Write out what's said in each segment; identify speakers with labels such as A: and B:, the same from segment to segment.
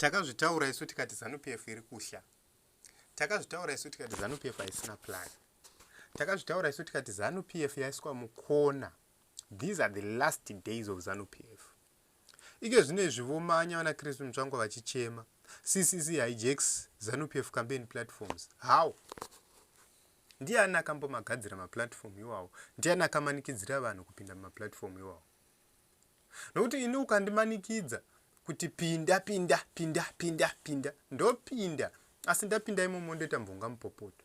A: Takazvitaura isu tikati zanu PF iri kuhla. Takazvitaura isu tikati zanu PF haisina plan. Takazvitaura isu tikati zanu PF yaiswa mukona. These are the last days of zanu PF. Ike zvine zvivomanya vana Kristu Mutsvangwa vachichema. CCC hijacks zanu PF campaign platforms. How? ndiani akambomagadzira maplatform iwawo ndiani akamanikidzira vanhu kupinda mumaplatform iwawo nokuti ini ukandimanikidza kuti pinda pinda pinda pinda pinda ndopinda asi ndapinda imomo ndoita mvonga mupopoto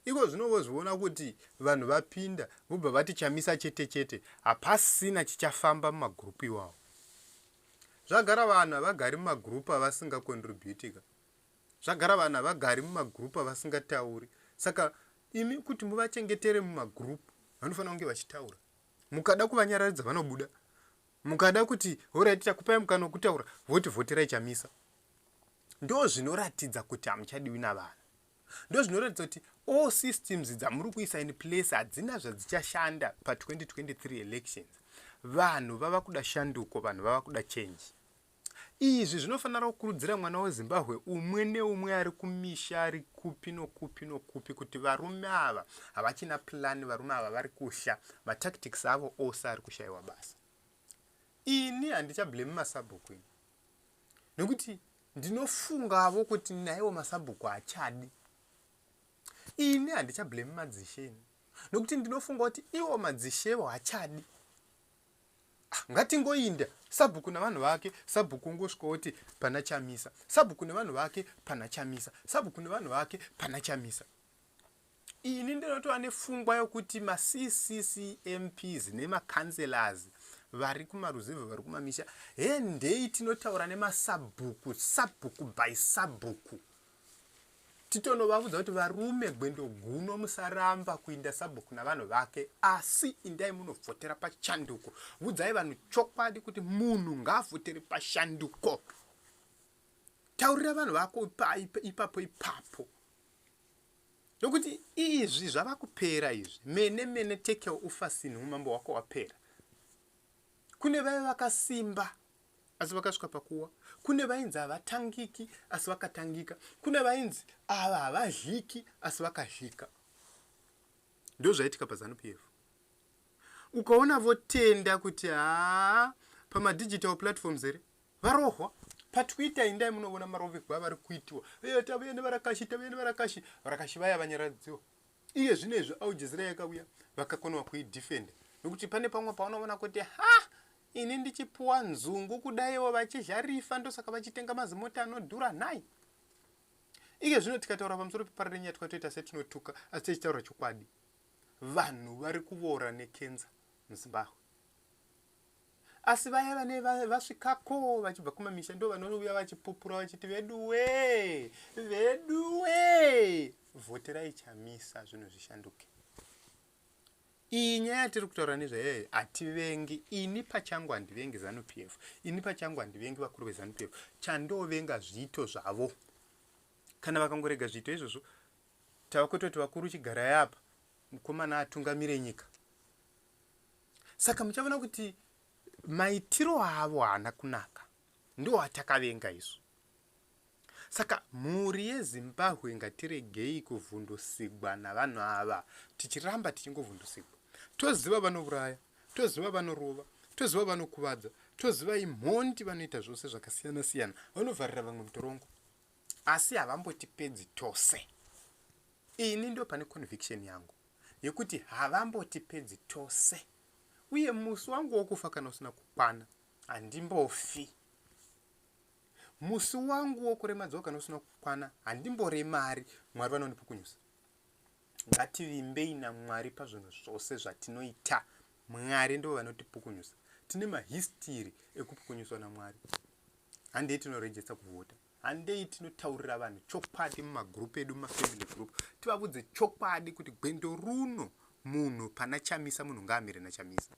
A: iko zvino vozviona kuti vanhu vapinda vobva vati chamisa chete chete hapasina chichafamba mumagurupu iwawo zvagara vanhu havagari mumagurupu avasingakontributika zvagara vanhu havagari mumagurupu avasingatauri saka imi kuti muvachengetere mumagurupu vanofanira kunge vachitaura mukada kuvanyararidza vanobuda mukada kuti horaiti takupai mukana wekutaura voti vhoterai chamisa ndo zvinoratidza kuti hamuchadiwi navanhu ndo zvinoratidza kuti all systems dzamuri kuisa in place hadzina zvadzichashanda pa 2023 elections vanhu vava kuda shanduko vanhu vava kuda change Izvi zvinofanira kukurudzira mwana weZimbabwe umwe neumwe ari kumisha ari kupi nokupi nokupi kuti varume ava havachina plan, varume ava vari kusha, matactics avo ose ari kushaiwa basa. Ini handichablame masabhuku ini nekuti ndinofungavo kuti naiwo masabhuku hachadi. Ini handichablame madzishe ini nokuti ndinofunga kuti iwo madzishevo hachadi. ngatingoinda sabhuku navanhu vake sabhuku ungosvika woti pana chamisa sabhuku nevanhu vake pana chamisa sabhuku nevanhu vake pana chamisa ini ndinotova nefungwa yokuti maccmps nemacancelors vari kumaruzevhe vari kumamisha hendei tinotaura nemasabhuku sabhuku by sabhuku Titono vavudza kuti varume gwendo guno musaramba kuinda sabhuku navanhu vake asi indai munovhotera pachanduko. Vudzai vanhu chokwadi kuti munhu ngaavhotere pashanduko. Taurira vanhu vako ipapo ipapo. Nokuti izvi zvava kupera izvi. Mene mene take your ufasin humambo hwako wapera. Kune vaya vakasimba asi vakasvika pakuwa kune vainzi havatangiki asi vakatangika kune vainzi ava havadliki asi vakadlika ndo zvaitika pazanu p f ukaona votenda kuti haa pamadigital platforms here varohwa patwitter indai munovona marovegwa avari kuitiwa e tavuya nevarakashi tavuya nevarakashi varakashi vaya vanyaradziwa iye zvino izvi aljezira yakauya vakakonewa kuidefenda nokuti pane pamwe paunovona kuti ha ini ndichipuwa nzungu kudaiwo vachizha rifa ndosaka vachitenga mazimota anodhura nhai ike zvino tikataura pamusoro pepara renyaya twatoita setinotuka asi tichitaura chokwadi vanhu vari kuvoora nekenza muzimbabwe asi vaya vane vasvikako vachibva kumamisha ndo vanouya vachipupura vachiti veduwe veduwe vhoterai chamisa zvinhu zvishanduke Iyi nyaya yatiri kutaura nezvayo yayo hativengi. Ini pachangu handivengi Zanu PF. Ini pachangu handivengi vakuru veZanu PF. Chandovenga zviito zvavo. Kana vakangorega zviito izvozvo tava kutoti vakuru chigarai apa mukomana atungamire nyika. Saka muchavona kuti maitiro avo haana kunaka. Ndiwo atakavenga izvo. Saka mhuri yeZimbabwe ngatiregei kuvhundusigwa navanhu ava tichiramba tichingovhundusigwa. Toziva vanouraya, toziva vanorova, toziva vanokuvadza, toziva imhondi vanoita zvose zvakasiyana siyana, vanovharira vamwe mutorongo. Asi havambotipedzi tose. Ini ndo pane conviction yangu yekuti havambotipedzi tose. Uye musi wangu wokufa kana usina kukwana handimbofi. Musi wangu wokuremadzwa kana usina kukwana handimboremari mwari vanondipukunyusa ngativimbei namwari pazvinhu zvose zvatinoita mwari ndivo vanotipukunyusa tine mahistiri ekupukunyuswa namwari handei tinorejesta kuvhota handei tinotaurira vanhu chokwadi mumagrupu edu mumafamily group tivavudze chokwadi kuti gwendo runo munhu pana chamisa munhu ngaamire nachamisa